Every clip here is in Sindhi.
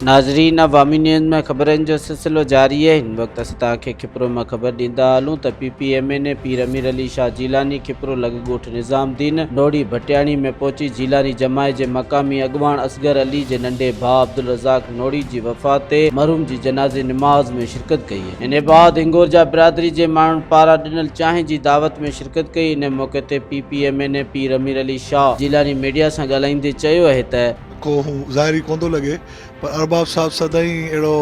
ناظرين عوامي نيوز ۾ خبرن جو سلسلو جاري آهي هن وقت اسين توهان کي کپرو مان خبر ڏيندا هلون ته P P M N A Pir Amir Ali Shah Jilani Khipro لڳ ڳوٺ نظام دين نوڙي ڀٽياڻي ۾ پهچي جيلاني جماعت جي مقامي اڳواڻ اصغر علي جي ننڍي ڀاء عبدالرزاق نوڙي جي وفات تي مرحوم جي جنازي نماز ۾ شرڪت ڪئي. ان بعد هنگورجا برادري جي ماڻهن پاران ڏنل چانهه جي دعوت ۾ شرڪت ڪئي ان موقعي تي P P M N A Pir Amir Ali Shah Jilani media سان ڳالهائيندي چيو اهي ته. ڪو هو ظاهر ئي ڪونه ٿو لڳي پر ارباب صاحب سدائين اهڙو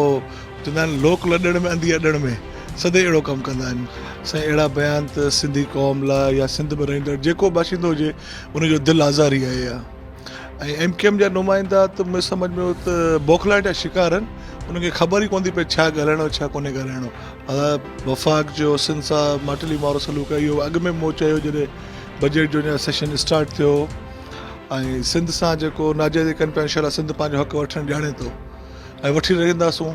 چوندا آهن لوڪ لڏڻ ۾ انڌي اڏڻ ۾ سدائين اهڙو ڪم ڪندا آهن سائين اهڙا بيان ته سنڌي قوم لاء يا سنڌ ۾ رهندڙ جيڪو به باشندو هجي ان جو دل آزار ئي آهي يا ۽ ايم ڪيو ايم جا نمائندا ته مون سمجھ ۾ هو ته بوکلاهٽ جا شڪار آهن انهن کي خبر ئي ڪونه ٿي پئي ڇا ڳالهائڻو ڇا ڪونهي ڳالهائڻو وفاق جو حسن صاحب ماٽلي مارو سلوڪ آهي اهو اڳ ۾ مون چيو جڏهن بجيٽ جو اڃا سيشن اسٽارٽ ٿيو ۽ سنڌ سان جيڪو ناجائز ڪن پيا انشاء سنڌ پنهنجو حق وٺڻ ڄاڻي ٿو ۽ وٺي رهنداسون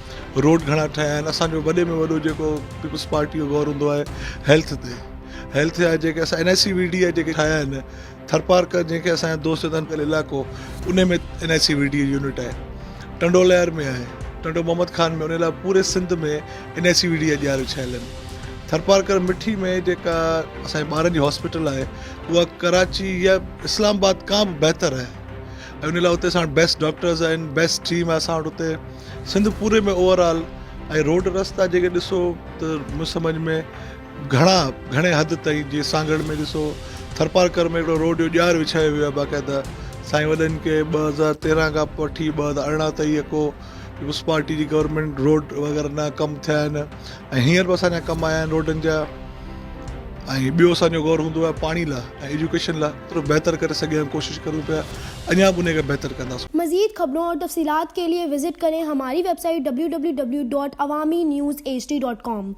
روڊ گهڻا ٺهيا آهن اسان جو وڏي ۾ وڏو جيڪو پيپلز پارٽي جو غور هوندو آهي هيلٿ تي هيلٿ جا جيڪي اسان N I C V D جا جيڪي ٺاهيا آهن ٿرپارڪ جنهن کي اسان دوست چوندا آهن علائقو ان ۾ N I C V D unit آهي ٽنڊو لهر ۾ آهي ٽنڊو محمد خان ۾ ان لاء پوري Sindh ۾ N I C V D جا ڄار وڇايل آهن ٿرپارڪر مٺي ۾ جيڪا اسانجي ٻارن جي هاسپيٽل آهي اها ڪراچي يا اسلام آباد کان به بهتر آهي ۽ ان لاء اتي اسان وٽ بيسٽ ڊاڪٽرز آهن بيسٽ ٽيم آهي اسان وٽ اتي سنڌ پوري ۾ اوور آل ۽ روڊ رستا جيڪي ڏسو ته مون سمجھ ۾ گھڻا گھڻي حد تائين جي سانگھڙ ۾ ڏسو ٿرپارڪر ۾ هڪڙو روڊ جو ڄار وڇايو ويو آهي باقاعده سائين وڏن کي ٻه هزار تيرهن کان وٺي ٻه هزار ارڙهن تائين اڪو پيپلز پارٽي جي گورنمينٽ روڊ وغيره نه ڪم ٿيا آهن ۽ هينئر به اسان جا ڪم آيا آهن روڊن جا ۽ ٻيو اسان جو غور هوندو آهي پاڻي لاء ۽ ايجوڪيشن لاء جيترو بهتر ڪري سگهيا ڪوشش ڪرون پيا اڃا به انهي کي بهتر ڪنداسون. مزيد خبرون اور تفصيلات کے لئے وزٽ ڪرين ھماري ويب سائيٽ www.awaminews hd.com.